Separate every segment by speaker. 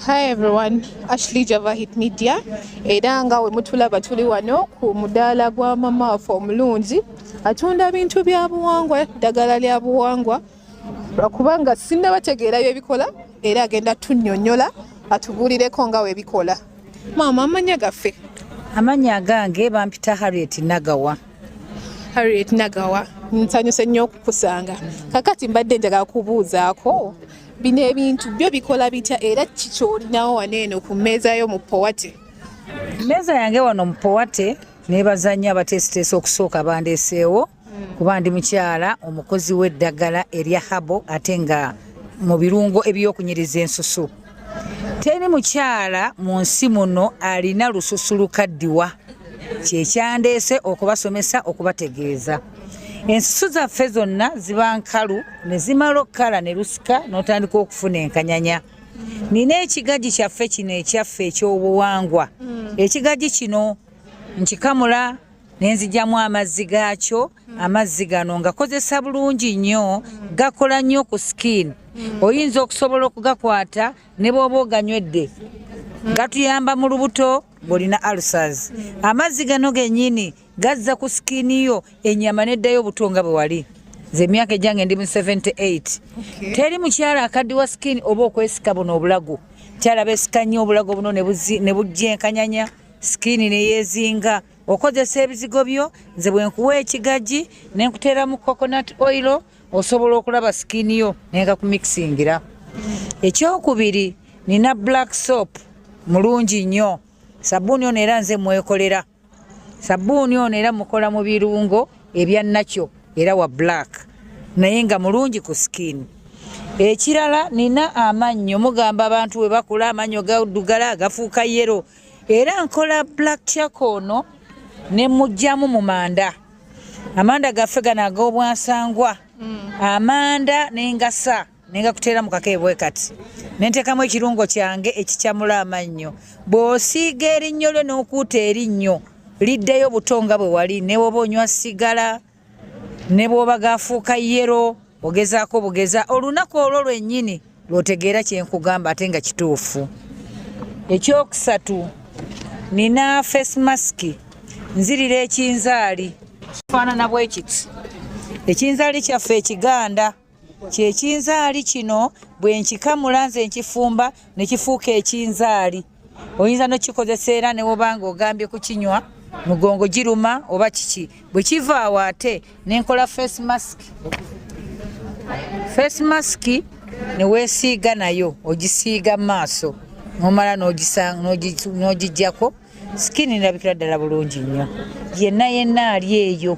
Speaker 1: Hi everyone, Ashley Java Hit Media era nga we mutulaba tuli wano ku mudaala gwa mama waffe omulungi atunda bintu bya buwangwa ddagala lya buwangwa lwakubanga sinna bategeera byebikola era agenda tunyonyola atubuulireko nga webikola maama amanya gaffe amanya
Speaker 2: agange bampita harriet nagawa harriet
Speaker 1: nagawa nsanyuse nnyo okukusanga kakati mbadde njagala kubuuzaako bino ebintu byo bikola bitya era kiki ky'olinawo wano eno ku mmeeza yo mu powate mmeeza
Speaker 2: yange wano mu powate neebaza nnyo abateesiteesa okusooka bandeeseewo hmm. kuba ndi mukyala omukozi w'eddagala erya habo ate nga mu birungo eby'okunyiriza ensusu teri mukyala mu nsi muno alina lususu lukaddiwa kyekyandeese okubasomesa okubategeeza ensusu zaffe zonna ziba nkalu ne zimala okukala ne lusika n'otandika okufuna enkanyanya nina ekigagi kyaffe kino ekyaffe ekyobuwangwa hmm. ekigagi kino nkikamula nenzijamu amazzi gaakyo amazzi gano ngakozesa bulungi nnyo gakola nnyo ku skin oyinza okusobola okugakwata ne bwoba oganywedde gatuyamba mu lubuto ng'olina alsas amazzi gano genyini gazza ku sikini yo enyama neddayo obuto nga bwe wali nze emyaka egyange ndi mu 78 teri mukyala akaddiwa sikini oba okwesika buno obulago kyala besika nnyo obulago buno ne bujja enkanyanya sikini neyezinga okozesa ebizigo byo nze bwenkuwa ekigaji nenkuteeramu coconut oil osobola okulaba sikini yo nenga kumikisingira ekyokubiri nina black soap mulungi nnyo sabuuni ono era nze mwekolera sabbuuni ono era mukola mu birungo ebya nakyo era wa black naye nga mulungi ku skin ekirala nina amannyo mugamba abantu we bakula amannyo gadugala agafuuka yero era nkola black chak ono ne mugyamu mu manda amanda gaffe gano ag'obwansangwa mm. amanda n'engasa nenga kuteera mu kake bwe kati nenteekamu ekirungo kyange ekikyamula amannyo bw'osiiga erinnyo lyo n'okuuta erinnyo liddeyo buto nga bwe wali ne bwoba onywa sigala ne bwoba gaafuuka yero ogezaako bugeza olunaku olwo lwennyini lw'otegeera kye nkugamba ate nga kituufu ekyokusatu nina face mask nzirira ekinzaali kifaanana bwekiti ekinzaali kyaffe ekiganda kyekinzaali kino bwenkikamula nze nkifumba nekifuuka ekinzaali oyinza nokikozesa era newobanga ogambye kukinywa mugongo giruma oba kiki bwekivaawo ate nenkola face mask face mask newesiiga nayo ogisiiga maaso nomala nogijjako skin nirabikira ddala bulungi nnyo yenna yenna ali eyo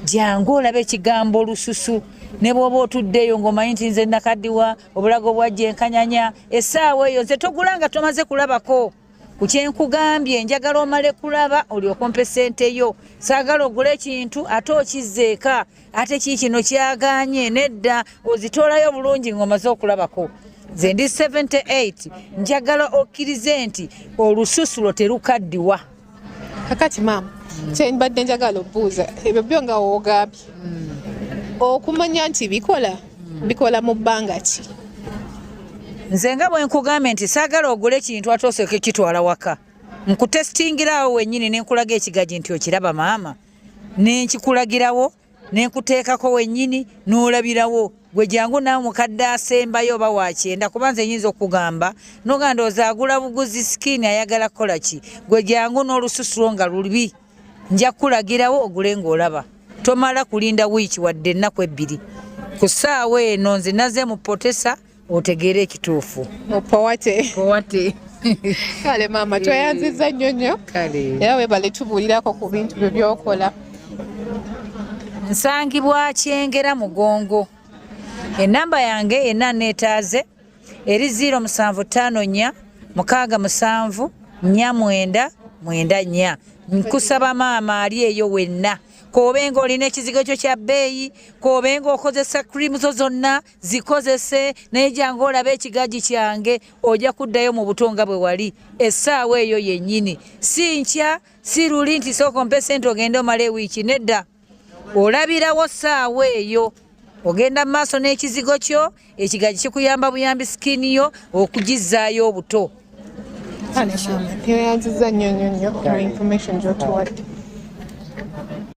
Speaker 2: jangu olaba ekigambo olususu ne bwoba otuddeyo ng'omanyi nti nze nakaddiwa obulago bwajja enkanyanya essaawa eyo nze togula nga tomaze kulabako ku kyenkugambye njagala omale kulaba olyokompa esente yo saagala ogula ekintu ate okizzeeka ate kii kino kyaganye nedda ozitoolayo bulungi ng'omaze okulabako nze ndi 78 njagala okkirize nti olususu lwo terukaddiwa kakati
Speaker 1: maama kyenbadde njagala obuuza ebyo byo nga wogambye okumanya nti bikola bikola mu bbanga ki
Speaker 2: nze nga bwenkugambye nti saagala ogule ekintu ate osooke kitwala waka nkutesitingiraawo wenyini nenkulaga ekigagi nti okiraba maama nenkikulagirawo nenkuteekako wennyini n'olabirawo gwe jangu naawe mukadde asembayo oba wakyenda kuba nze nyinza okugamba noga ndooza agula buguzi sikini ayagala kukola ki gwe jangu n'olususu lwo nga lubi nja kukulagirawo ogule ng'olaba tomala kulinda wiiki wadde ennaku ebbiri ku ssaawa eno nze naze mupotesa otegeere ekituufu opowate
Speaker 1: powate kale maama tweyanziza nnyo nnyo era webale tubuulirako ku bintu byo byokola
Speaker 2: nsangibwa kyengera mugongo enamba yange ena neetaaze eri ziiro musanvu ttaano nnya mukaaga musanvu nnya mwenda mwenda nnya nkusaba maama ali eyo wenna kobenga olina ekizigo kyo kya bbeeyi kobenga okozesa krimu zo zonna zikozese naye jangu olaba ekigaji kyange ojja kuddayo mu buto nga bwe wali essaawa eyo yennyini si nkya si luli nti sooka ompe sente ogende omala ewiiki nedda olabirawo ssaawa eyo ogenda mu maaso n'ekizigo kyo ekigaji kikuyamba buyambi sikini yo okugizzaayo obuto tweyanziza
Speaker 1: nnyo nnyo nnyo information gyotuwadde